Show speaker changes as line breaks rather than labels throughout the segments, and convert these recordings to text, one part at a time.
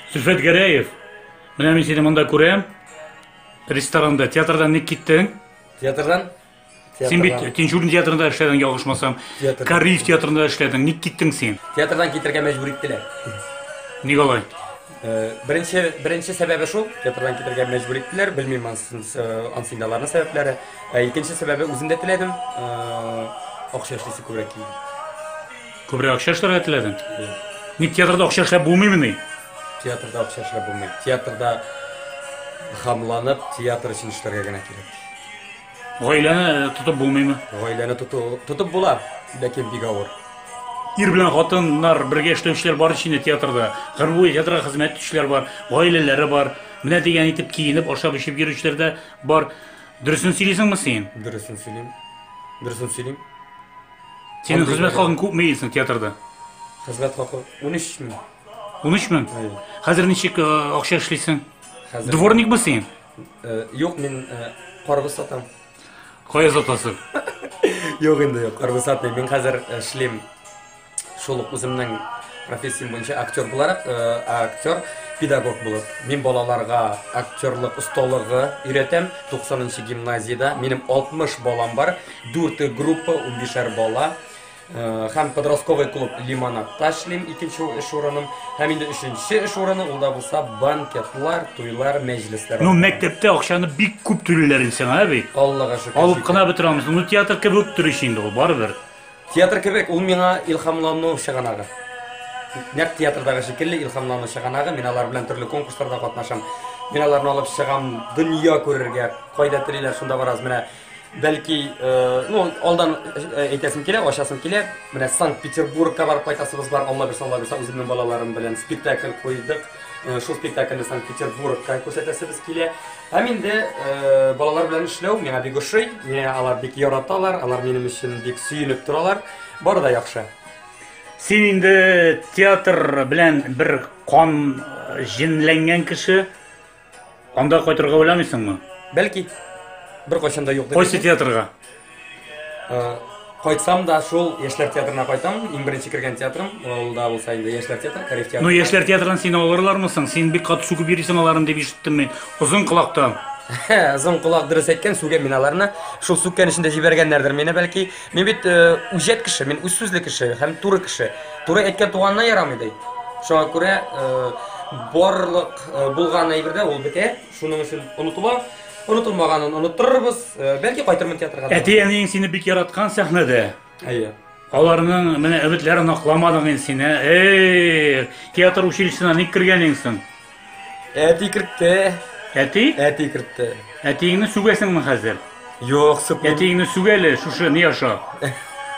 Сөлфәт Гәрәев, менә мин сине монда күрәм. Ресторанда, театрдан ник киттең? Театрдан?
Син бит
Тинчурин театрында эшләдең, ялгышмасам. Кариев театрында эшләдең. Ник киттең син? Театрдан китергә мәҗбүр
иттеләр. Ник
алай?
Беренче, беренче сәбәбе шул, театрдан китергә мәҗбүр иттеләр, белмим ансы инде аларның сәбәпләре. Ә икенче сәбәбе үзем дә теләдем, акча эшлисе күбрәк килде. Күбрәк
акча эшләргә теләдең? Ник театрда акча эшләп булмыймыни? Театрда акча
эшләп булмый. Театрда хамланып, театр өчен эшләргә генә кирәк. Гаиләне
тотып булмыймы? Гаиләне тоту,
тотып була, ләкин бик авыр. Ир белән
хатыннар бергә эшләүчеләр бар ич инде театрда. Гомер буе театрга хезмәт итүчеләр бар, гаиләләре бар. Менә дигән итеп киенеп, ашап-эчеп йөрүчеләр дә бар. Дөресен сөйлисеңме син? Дөресен сөйлим.
Дөресен сөйлим. Синең
Андый хезмәт бер- хакың күпме дисең театрда? Хезмәт хакы
13 мең. 13 мең? Әйе.
Хәзер ничек э, акча эшлисең? Хәзер Дворникмы
син?
Юк, мин
карбыз сатам. Кая
сатасың? Юк
инде, юк, карбыз сатмыйм. Мин хәзер эшлим шул ук үземнең профессиям буенча актер буларак, актер педагог булып. Мин балаларга актерлык осталыгы өйрәтәм. 90 нчы гимназиядә минем 60 балам бар. Дүрте группа, унбишәр бала. Һәм подростковый клуб Лимонадта эшлим, икенче эш урыным. Һәм инде өченче эш урыны, ул да булса банкетлар, туйлар, мәҗлесләр. Ну, мәктәптә
акчаны бик күп түлиләр инде сиңа бит. Аллага шөкер. Алып кына
бетерә алмыйсың. Ну,
театр кебек үк тор ич инде ул, барыбер. Театр кебек,
ул миңа илһамлану чыганагы. Нәкъ театрдагы шикелле илһамлану чыганагы, мин алар белән төрле конкурсларда катнашам. Мин аларны алып чыгам, дөнья күрергә, кайда телиләр, шунда барабыз. Менә Бәлки, ну, алдан әйтәсем килә, ачасым килә. Менә Санкт-Петербургка барып кайтасыбыз бар. Алла бирса, Алла бирса, үземнең балаларым белән спектакль куйдык. Шул спектакльне Санкт-Петербургка күрсәтәсебез килә. Һәм инде балалар белән эшләү миңа бик ошый. Миңа алар бик яраталар, алар минем өчен бик сөенеп торалар. Бары да яхшы. Син
инде театр белән бер кан җенләнгән кеше. Анда кайтырга уйламыйсыңмы? Бәлки.
Беркайчан да юк дип Кайсы әйтмим. театрга?
Э,
Кайтсам да шул яшьләр театрына кайтам. Иң беренче кергән театрым, ул да булса инде яшьләр театры, Кариф театры. Ну, яшьләр театрын сине
алырлармы соң? Син бик каты сүгеп йөрисең аларын дип ишеттем мин. Озын колактан. Озын
колак дөрес әйткән, сүгәм мин аларны. Шул сүккән өчен дә җибәргәннәрдер мине, бәлки. Мин бит үҗәт кеше, мин үз сүзле кеше һәм туры кеше. Туры әйткән туганына ярамый ди. Шуңа күрә барлык булган әйбердә ул бетә. Шуның өчен онытыла. Онытылмаганын оныттырырбыз. Бәлки кайтырмын театрга. Әти-әниең сине бик
яраткан сәхнәдә. Әйе.
Аларның
менә өметләрен акламадың инде син, ә? Эй, театр училищесына ник кергән инсең? Әти
кертте. Әти? Әти
кертте.
Әтиеңне сүгәсеңме
хәзер? Юк, сүкмим.
Әтиеңне сүгәле, шушы
ни аша?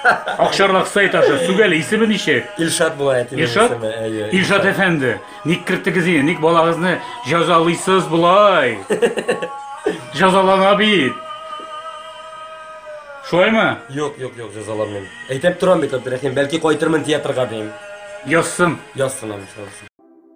Акчарлак сайт аша сүгәле, исеме ничек? Илшат була әти.
Илшат? Әйе. Илшат әфәнде,
ник кертегез инде? Ник балагызны җәзалыйсыз болай? Җәзалана бит. Шулаймы? Юк, юк, юк,
җәзаламыйм. Әйтеп торам бит, Абдрахим, бәлки кайтырмын театрга дим. Язсын. Язсын аны, язсын.